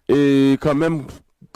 E kanmenm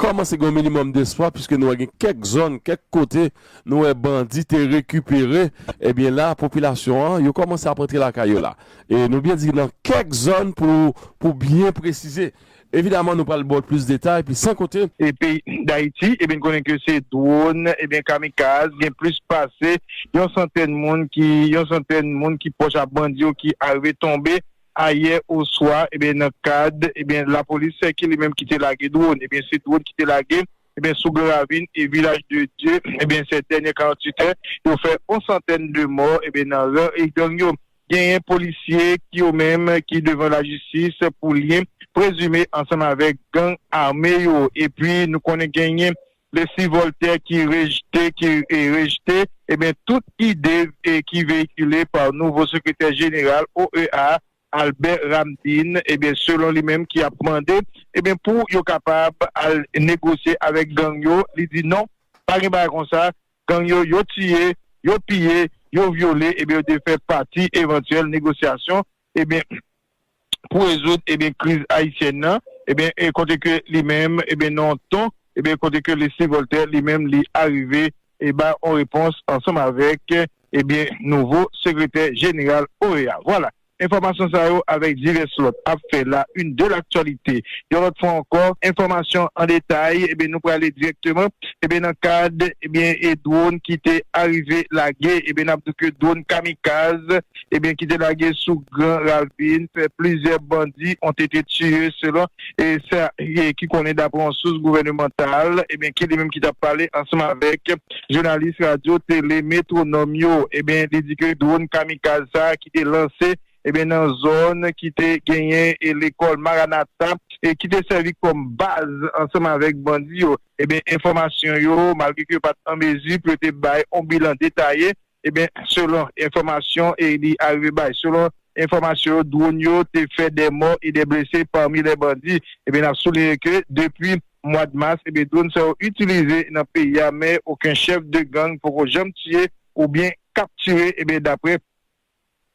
kòmanse gen yon minimòm despwa piske nou wè gen kèk zòn, kèk kote nou wè bandi te rekipere, ebyen la popilasyon an yo kòmanse ap antre lakay yo la. E nou byen di nan kèk zòn pou byen presize. Evidaman nou pral baw plis detay pi san konte. E peyi Dayiti ebyen n konnen ke se dwòn ebyen kamikaz gen plis pase yon santèn moun ki yon santèn moun ki pwòch a bandi yo ki arive tonbe. ayè oswa ebyen nan kad ebyen lapolis ki li menm ki te lage dron ebyen se dron ki te lage ebyen sou gran ravin e vilaj de dye ebyen sè dènyè 48 è yo fè on santèn de mò ebyen nan ran e gang yo genyen polisye ki yo menm ki devan lajistis pou lyen prezime ansanm avèk gang ame yo epi nou konnen genyen Lesi Vòltè ki rejte ki rejte ebyen tout ide ki veyikile pa nouvo sekretè jeneral OEA Albè Ramdin ebyen selon li menm ki ap mande ebyen pou yo kapab al negosye avèk gang yo li di non pa gen bagay konsa gang yo yo tiye yo piye yo vyole ebyen yo te fè pati evantyèl negosyasyon Ebyen pou rezoud ebyen kriz ayisyèn nan ebyen kote ke li menm ebyen nan yon ton ebyen kote ke Leslie Voltaire li menm li arive e bay yon repons ansanm avèk ebyen nouvo sekretè jeneral OEA. Vwala, enfòmasyon sa yo avèk divès lòt ap fè la une de l'actualité yon lòt fwa ankò. Enfòmasyon an detay ebyen nou prale dirèkteman ebyen nan kad ebyen e dwòn ki te arive lage ebyen nap di ke dwòn kamikaz. ebyen ki te lage sou gran ravin fè plizyè bandi ont ete tiye selon sa ki konnen daprè yon sous gouvènemantal ebyen ki li menm ki tap pale ansanm avèk jounalis radyo tele Métronome yo ebyen li di ke dron kamikaz sa ki te lanse ebyen nan zòn ki te genyen e lekòl Maranatha e ki te sèvi kòm baz ansanm avèk bandi yo ebyen enfòmasyon yo malgre ke yo pat an mezi pou yo te bay yon bilan detaye Ebyen, selon enfòmasyon li arive bay, selon enfòmasyon yo, dwonn yo te fè 2 mò e 2 blese pami lè bandi. Ebyen, n ap souliye ke depi mwad mas, ebyen dwonn sa yo itilize nan peyi a, men oken chèf de gang poko janm tiye oubyen kaptire, ebyen daprè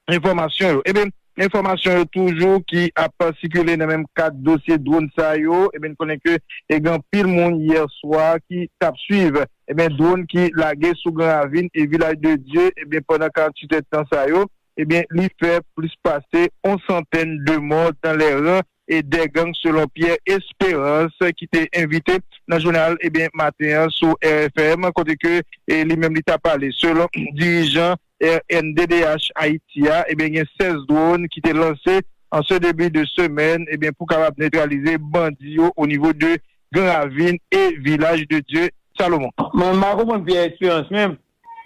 Enfòmasyon yo. Eben, enfòmasyon yo toujou ki ap sikile nan menm kad dosye dronn sa yo. Eben, n konnen ke gen anpil moun yè swa ki t ap swiv, eben, dronn ki lage sou Gran Ravin e Vilaj de Dye, eben, pandan 48 èdtan sa yo, eben, li fè plis pase on santèn de mò dan lè ran e dè gang selon Pierre Esperance ki te envite nan jounal ebyen maten an sou RFM kote ke li menm li ta pale selon dirijan rnddh Ayiti a ebyen gen 16 drone ki te lanse an se debi de semèn ebyen pou kapab netralize bandi yo o nivo de gran ravin e vilaj de Dye Salomon. Mwen m pa konprann Pierre Esperance menm.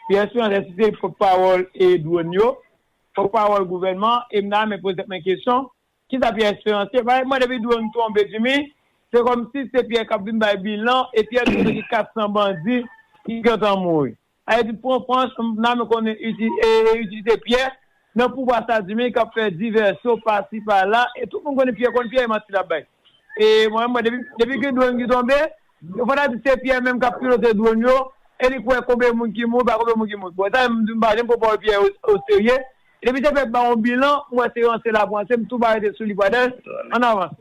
Pierre Esperance èske se pòt pawòl e drone yo? Pòt pawòl gouvènman e m ta renmen poze tèt mwen kesyon Kisa Pierre Esperance te bay? Mwen depi drone tonbe Jimmy se komsi se Pierre kap vin bay bilan e Pierre di nou gen 400 bandi ki gentan mouri. Haiti pran panch m nan konnen itilite Pierre nan pouvwa sa Jimmy kap fè divèsyon pasi pala e tout moun konnen Pierre konn Pierre e manti lap bay e mwen menm depi gen drone ki tonbe Yo pa ta di se Pierre menm kap pilote drone yo e li kwè konbyen moun ki mouri pa konbyen moun ki mouri bon sa menm m di m pa janm pran pawòl Pierre o serye depi se fè ba yon bilan m wè se ranse lap ranse m tou ba rete sou li brother ann avanse.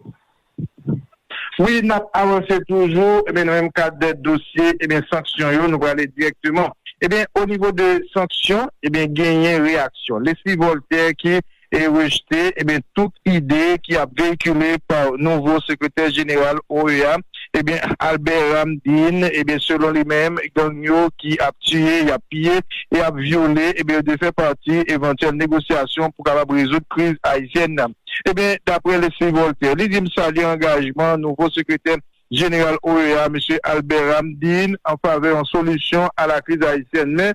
Wi nap avanse toujou ebyen nan menm kad dosye ebyen sanksyon yo nou prale dirèkteman ebyen o nivo de sanksyon ebyen genyen reyaksyon Lesly Voltaire ki e rejte tout ide ki ap veyikile pa nouvo sekretè jeneral OEA Albert Ramdin selon li menm gang yo ki ap tiye, y ap piye e ap vyole yo dwe fè pati evantyèl negosyasyon pou kapab rezoud kriz ayisyèn nan. Ebyen daprè Leslie Voltaire li di m salye angajman nouvo sekretè jeneral OEA Mesye Albert Ramdin an favè yon solisyon a la kriz ayisyèn men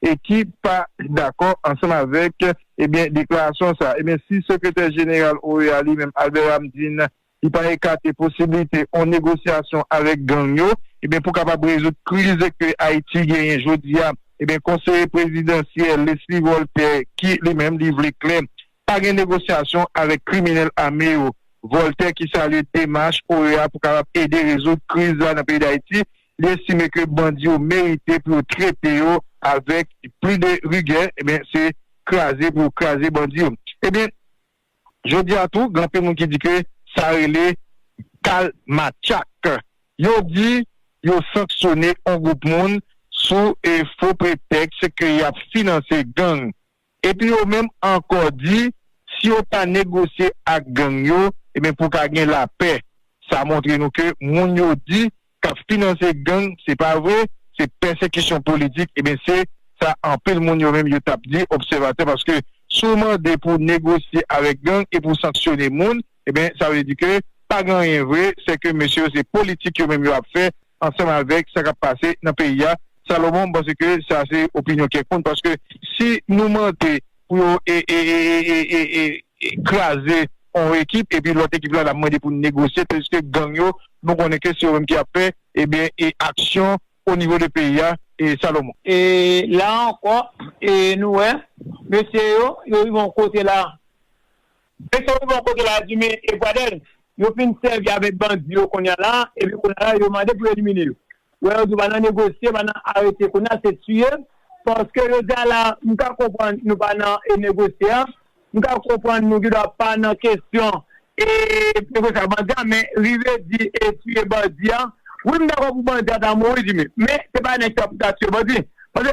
e ki pa dakò ansanm avèk ebyen deklarasyon sa, ebyen si sekretè jeneral OEA li menm Albert Ramdin li pa ekate posiblite on negosyasyon avèk gang yo ebyen pou kapab rezoud kriz ke Ayiti genyen jodi a ebyen konseye prezidansyèl Leslie Voltè ki li menm li vle klè pa gen negosyasyon avèk kriminèl ame yo. Voltè ki salye demach OEA pou kapab ede rezoud kriz la nan peyi Dayiti Li estime ke bandi yo merite pou yo trete yo avèk pli de rigè, ebyen se kraze pou yo kraze bandi yo. Ebyen jodi a tou gen anpil moun ki di ke sa rele kal matchak. Yo di yo sanksyone on gwoup moun sou fo pretèks ke y ap finanse gang. Epi yo menm ankò di si yo pa negosye ak gang yo ebyen pou ka gen lapè. Sa montre nou ke moun yo di kap finanse gang se pa vre, se pèsekisyon politik ebyen se sa anpil moun yo menm yo tap di obsèvatè paske si w mande pou negosye avèk gang e pou sanksyone moun ebyen sa vle di ke pa gen anyen vre sè ke mesye yo se politik yo menm yo ap fè ansanm avèk sa k ap pase nan peyi a. Salomon, m panse ke sa se opinyon kèk moun paske si nou mande pou yo kraze yon ekip epi lòt ekip la ap mande pou negosye tadiske gang yo nou konnen ke se yo menm ki ap fè ebyen aksyon onivo de peyi a Salomon. E la ankò, e nou wè, mesye yo, yo rive yon kote la. Nèg sa yo bon kote la Jimmy et Pradel yo fin sèvi avèk bandi yo kounya la epi kounya la yo mande pou yo elimine yo wè yo di pa nan negosye pa nan arete kounya se tiye paske jodi a la m ka konprann nou pa nan e negosye a m ka konprann nou gidwa pa nan kesyon e negosye ak bandi a men rive di e tiye bandi a wi m dakò pou bandi a ta mouri Jimmy men se pa nèg sa pou ta tiye bandi paske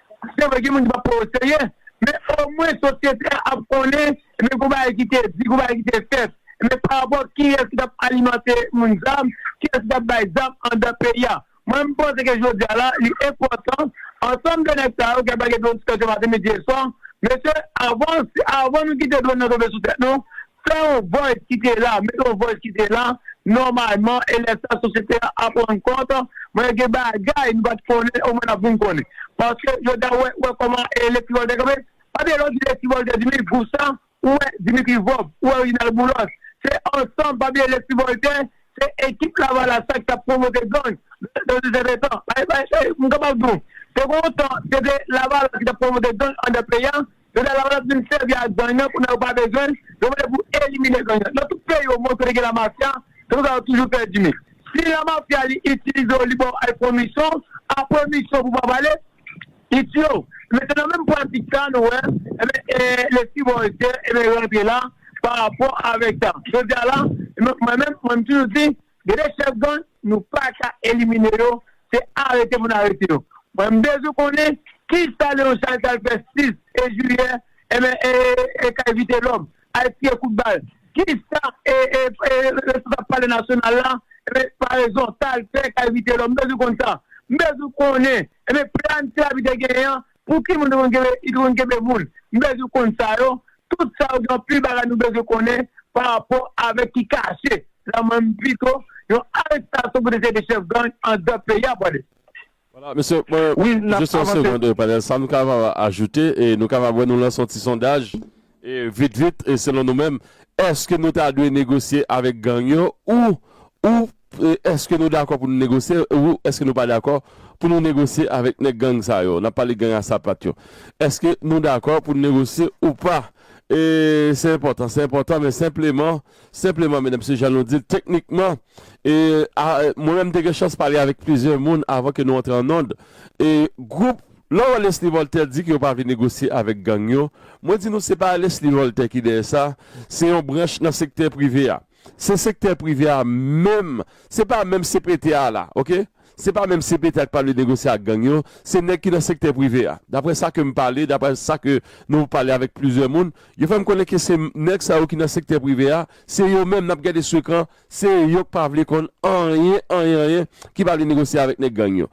Se vre gen moun ki pap pran yo serye, men omwen sosyete a ap konnen ebyen gon bagay ki te di, gon bagay ki te fèt ebyen pa rapò kiyès ki tap alimante moun sa, kiyès ki tap bay zam anndan peyi a. Mwen m panse ke jodi a la li enpòtan ansanm de nèg sa yo ki ap lage dronn sou tèt yo maten, midi e swa, mesye avan avan nou kite dronn nan tonbe sou tèt nou Fè yon vòy kite la, mete yon vòy kite la, nòmalman, e lè sa sosyete a ap rann kont, mwen gen bagay nou pa t konnen omwen n ap vin konnen. Paske yo ta wè wè kòman e Lespri Vòltè kanpe, pa gen lòt ki Lespri Vòltè di mi gwoup sa, ou wè Dimitri Vorbe, ou wè Reginald Boulos, se ansanm, pa bliye Lespri Vòltè se ekip Lavalas la ki t ap pwomote gang nan yon sèten tan. M kapab di w, te gen yon tan se te Lavalas ki t ap pwomote gang anndan peyi a, Yo ta kapab vin sèvi ak gang nan pou nan yo pa bezwen l, yo vle pou elimine gang nan. Nan tout peyi o mond kote gen la mafya, se konsa yo toujou pèdi men. Si la mafya li itilize w li ba w ay pran misyon, apre misyon pou pa pale, li tiye w. Enben se nan menm pratik sa nou wè enben lespri Bòltè enben rantre la pa rapò avèk sa. Jodi a la, mwen menm, mwen m toujou di, Gen de chèf gang nou paka elimine yo se arete pou n arete yo. Mwen m bezwen konnen kisa Leon Charles t al fè 6 e jiyè e kay Vitelòm al tire kout bal kisa e responsab palè nasyonal la paraison t al fè kay Vitelòm m bezwen konn sa m bezwen konnen planification te genyen an Pouki moun yo te konn kenbe moun? M bezwen konn sa yo, tout sa yo gen anpil bagay nou bezwen konnen pa rapò avèk ki kache la m menm pito yon arestasyon pou 2 se 2 chèf gang an dan peyi a pwale. Wala mesye mwen jis yon segond panel sam kapab ajoute e nou kapab wè nou lanse yon ti sondaj E vit vit, selon nou menm, èske nou ta dwe negosye avèk gang yo ou ou èske nou dakò pou nou negosye ou èske nou pa dakò pou nou negosye avèk nèg gang sa yo? N ap pale gang a sapat yo. Èske nou dakò pou nou negosye ou pa? E se enpòtan, se enpòtan men senpleman, senpleman medam mesye jan nou di l teknikman e a mwen menm m te gen chans pale avèk plizyè moun avan ke nou antre an nond e gwoup Lò Lesly Voltaire di ke yo pa vle negosye avèk gang yo, mwen di nou se pa Lesly Voltaire ki dèyè sa, se yon branch nan sektè prive a. Se sektè prive a menm, se pa menm CPT a la, ok. Se pa menm CPT a ki pa vle negosye ak gang yo, se nèg ki nan sektè prive a. Daprè sa ke m pale, daprè sa ke nou pale avèk plizyè moun, yo fè m konnen ke se nèg sa yo ki nan sektè prive a, se yo menm, n ap gade sou ekran, se yo ki pa vle konn anyen, anyen, anyen, ki pa vle negosye avèk nèg gang yo.